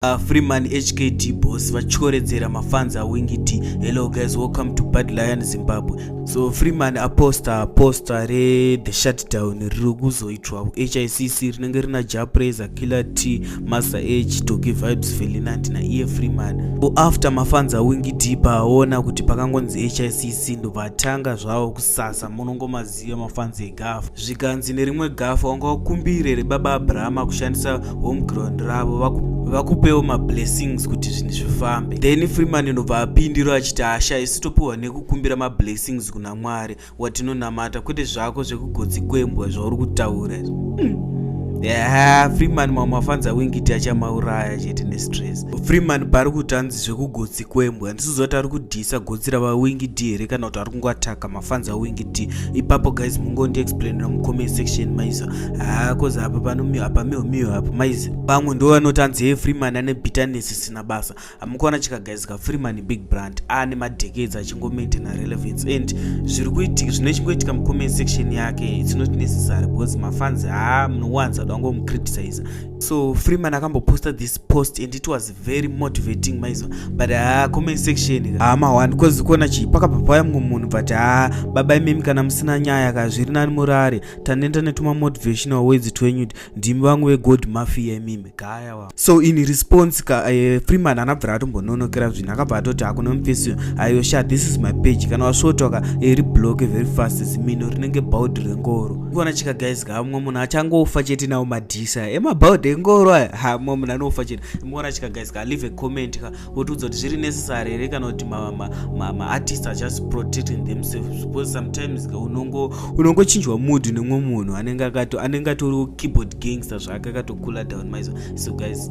Uh, Freeman HKT boss vachoredzera mafans awingiti hello guys welcome to bad lion zimbabwe so Freeman aposta posta re the shutdown riri kuzoitwa HICC rinenge rina Japreza Killer T Master H Toki Vibes Felinant na iye Freeman so after mafans awingiti paona kuti pakangonzi HICC ndovatanga zvavo kusasa munongoma size yemafanzi egafu zvikanzi nerimwe gafu wanga ukumbire rebaba abrahama kushandisa home ground ravo vakupewo mablessings kuti zvinhu zvifambe then freeman inobva apindiro achiti hasha isu topiwa nekukumbira mablessings kuna mwari watinonamata kwete zvako zvekugotsi kwembwa zvauri kutaura mm yeah, freeman mamwe afanza wingiti achamauraya chete nestress freeman pari kuti anzi zvekugotsi kwembwa ndisizoti ari kudhisa gotsi ravawingidi here kana kuti ari kungoataka fanza wingi ti ipapo guys mungondi explainira mucomment section maiza haa cause apa pano miyo apa miyo miyo apa maiza pamwe ndo vanoti anzi hee freeman ane bitterness isina basa amukuona chika guys ka freeman big brand ane madecades achingomaintaina relevance and zviri kuitika zvine chingoitika mucomment section yake its not necessary because mafanzi haa munowanza dango mucriticiza so freeman akamboposta this post and it was very motivating maizwa but haa comment section haa mahwani because kuona chii pakabva paya mumwe munhu but haa baba imimi kana musina nyaya ka zviri nani murare tanenda netuma motivational words twenyu ndimi vangu vegod mafia imimi gaya wa so in response ka uh, freeman anabvira atombononokera zvinhu akabva atoti hakuna mufesi ayo sha this is my page kana wasvotoka iri eh, bloke very fast zimino rinenge baud rengoro kuona chika guys kamwe munhu achangofa chete nawo madhisa emabhaudhi engoro aya ha mwe munhu anofa chete mora chika guys ka leave a comment ka wotiudza kuti zviri necessary here kana kuti maartist ma, ma, ma are just protecting themselves because sometimes ka unongo unongochinjwa mood nemwe munhu anenge akato anenge atoriwo keyboard gangster zvake akatokula down maizo so guys